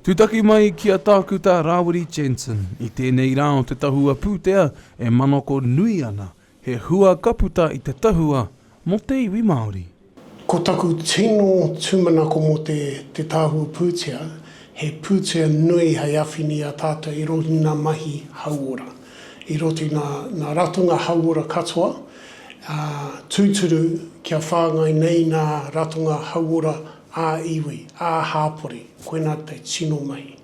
Tūtaki mai ki a Tākuta Rāwiri Jensen, i tēnei rā o te tahua pūtea e manako nui ana, he hua ka puta i te tahua mō te iwi Māori. Ko taku tino tūmanako mō te te tahua pūtea, he pūtea nui hei awhina i a tātou i roto i ngā mahi hauora, i roto i ngā ratonga hauora katoa, ā, tūturu kia whāngai nei ngā ratonga hauora ā-iwi, ā-hāpori, koinā te tino mahi.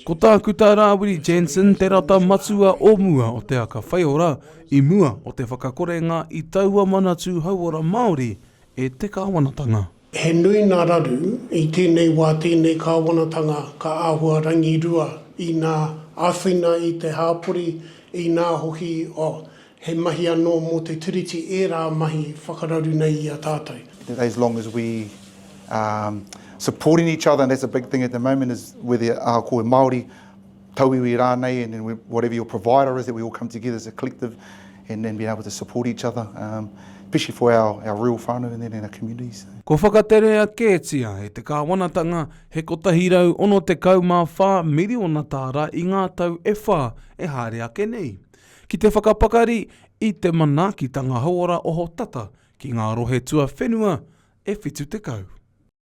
Ko Tākuta Rāwiri Jensen te rata matua o mua o Te Aka Whaiora i mua o te whakakorenga i taua Manatū Hauora Māori e te Kāwanatanga. He nui ngā raru i tēnei wā tēnei kāwanatanga ka āhua rangirua inā āwhina i te hāpori, inā hoki, oh, he mahi anō mō te Tiriti ērā mahi whakararu nei i a tātou. As long as we are supporting each other and that's a big thing at the moment is whether ahakoa e Māori, tauiwi rānei and then whatever your provider is that we all come together as a collective and then being able to support each other um, especially for our, our real whānau and then in our communities. Kua whakaterea kētia e te kāwanatanga he 164 miriona tāra i ngā tau e whā e haere ake nei, ki te whakapakari i te manaakitanga hauora ohotata ki ngā rohe tuawhenua e 70.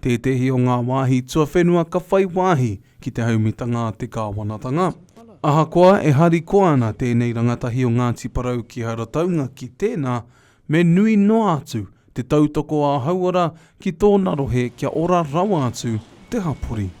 Tētehi o ngā wāhi tuawhenua ka whai wāhi ki te haumitanga a te kāwanatanga. Ahakoa e harikoa ana tēnei rangatahi o Ngāti Porou ki Harataunga ki tēnā, me nui noa atu te tautoko a Hauora ki tōna rohe kia ora rawa atu te hapori.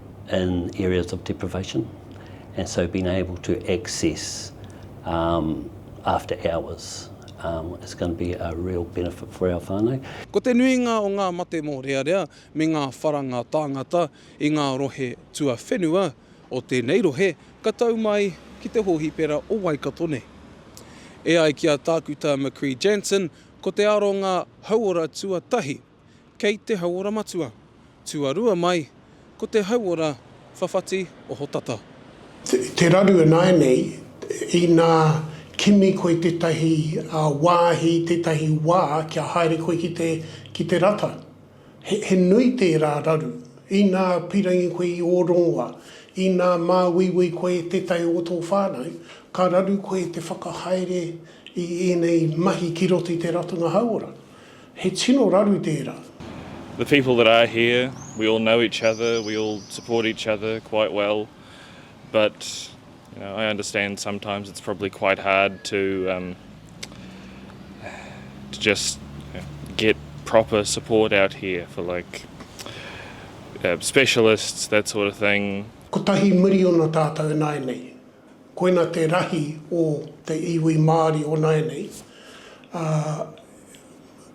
in areas of deprivation and so being able to access um, after hours um, is going to be a real benefit for our whānau. Ko te nuinga o ngā mate mōrearea me ngā wharanga tāngata i ngā rohe tuawhenua o tēnei rohe ka tau mai ki te hōhipera o Waikato nei. E ai ki a Tākuta McCrea-Jansen, ko te aronga hauora tuatahi, kei te hauora matua. Tuarua mai, ko te hauora whawhati ohotata. Te raru ināianei, inā kimi koe tētahi wāhi, tētahi wā kia haere koe ki te rata. He nui tērā raru. Inā pīrangi koe i ō rongoa, inā māuiui koe e tētahi o tō whānau, ka raru koe te whakahaere i ēnei mahi ki roto i te ratonga hauora. He tino raru tērā. The people that are here, we all know each other, we all support each other quite well, but you know, I understand sometimes it's probably quite hard to um, to just get proper support out here for like uh, specialists, that sort of thing. Kotahi miriona tātou e nāianei. Koina te rahi o te iwi Māori o nāianei. Ā,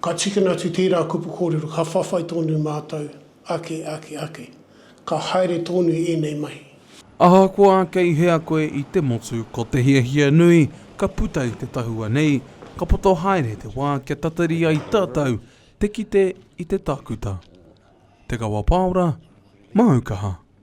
Ka tīkina atu tērā kupu kōrero, ka whawhai tōnu mātou ake, ake, ake. Ka haere tōnu i ēnei mahi. Ahakoa kei hea koe i te motu, ko te hiahia nui, ka puta i te tahua nei, ka poto haere te wā kia tatari ai tātou te kite i te tākuta, te kawa pāora, māu kaha.